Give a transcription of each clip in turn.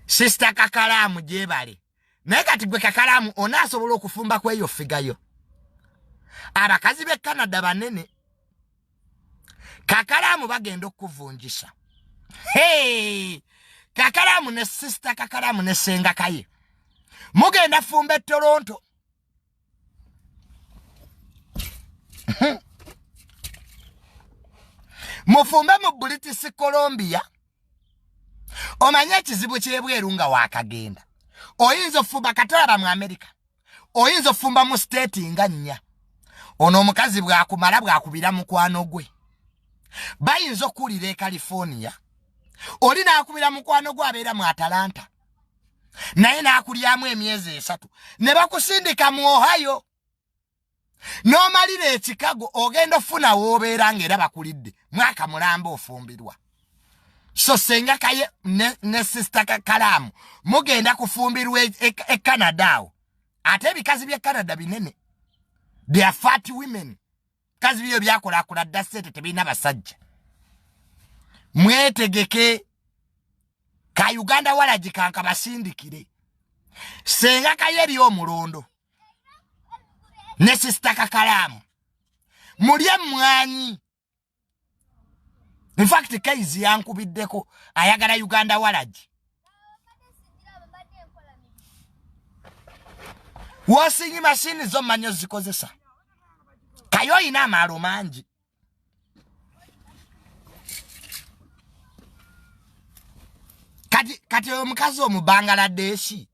sisita kakalaamu gyebale naye kati gwe kakalaamu onaasobola okufumba ku eyo figayo abakazi b'e canada banene kakalaamu bagenda okukuvunjisa hey! kakalaamu ne sisita kakalaamu ne senga kaye mugenda fumba e toronto mufumbe mu british colombia omanye ekizibu kyebweru nga wakagenda oyinza ofumba kataba mu america oyinza ofumba mu state nga nnya ono omukazi bwakumala bwakubira mukwano gwe bayinza okuwulira e california oli nakubira mukwano gwe abeera mu atalanta naye n'akulyamu emyezi esatu ne bakusindika mu ohio n'omalira ekikago ogenda ofuna w'obeera ng'era bakulidde mwaka mulamba ofumbirwa so senga kaye ne, ne sista kalaamu mugenda kufumbirwa e, e, e canada awo ate ebikazi by'e canada binene they are fat women kazi biyo byakulakula dda sente tebirina basajja mwetegeke ka uganda walagikanka basindikire senga kayo eri omulondo ne sisita kakalaamu mulye mmwanyi in fact kaizi yankubiddeko ayagala uganda walagi wosinyi mashini zo manyo zikozesa kayo oyina amaalo mangi kati kati oyo omukazi omubangaladesi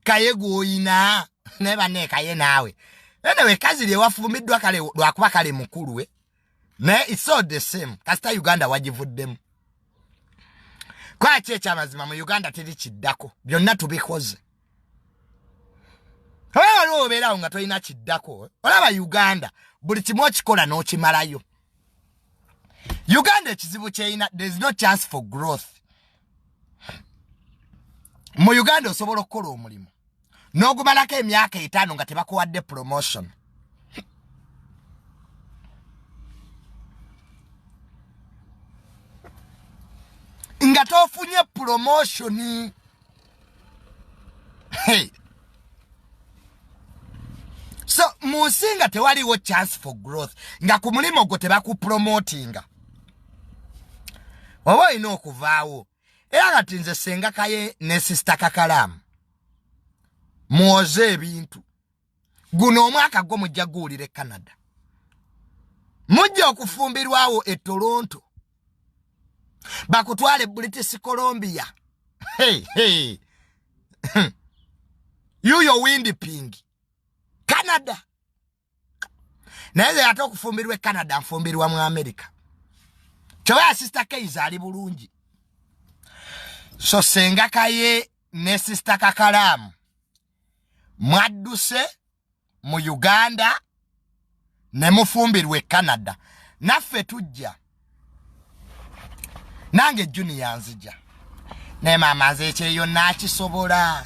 kaye gwoyina naye banne kaye naawe enewe kazi lyewafumiddwa kale lwakuba kale mukulu we naye iso the same kasita uganda wagivuddemu kwaki ekyamazima mu uganda teri kiddako byonna tubikoze oba waliwo obeerawo nga tolina kiddako olaba uganda buli kimu okikola n'okimalayo uganda ekizibu kyeyina there's no chance for growth mu uganda osobola okukola omulimu n'ogumalako emyaka etaano nga tebakuwadde promotion nga tofunye promotion hey. so mu nsi nga tewaliwo chance for growth nga ku mulimu gwo tebakupromotinga oba olina okuvaawo era kati nze sengakaye ne sisita kakalaamu mwoze ebintu guno omwaka gwo mujja guwulira e canada mujja okufumbirwawo e toronto bakutwale british colombia hey, hey. yuyo windi pingi canada naye ze ate okufumbirwa e canada nfumbirwa mu america kyoba ya sister keiza ali bulungi so senga kaye ne sister kakalaamu mwadduse mu uganda ne mufumbirwa e canada naffe tujja nange juniya nzija naye maama nze ekyeyo nakisobola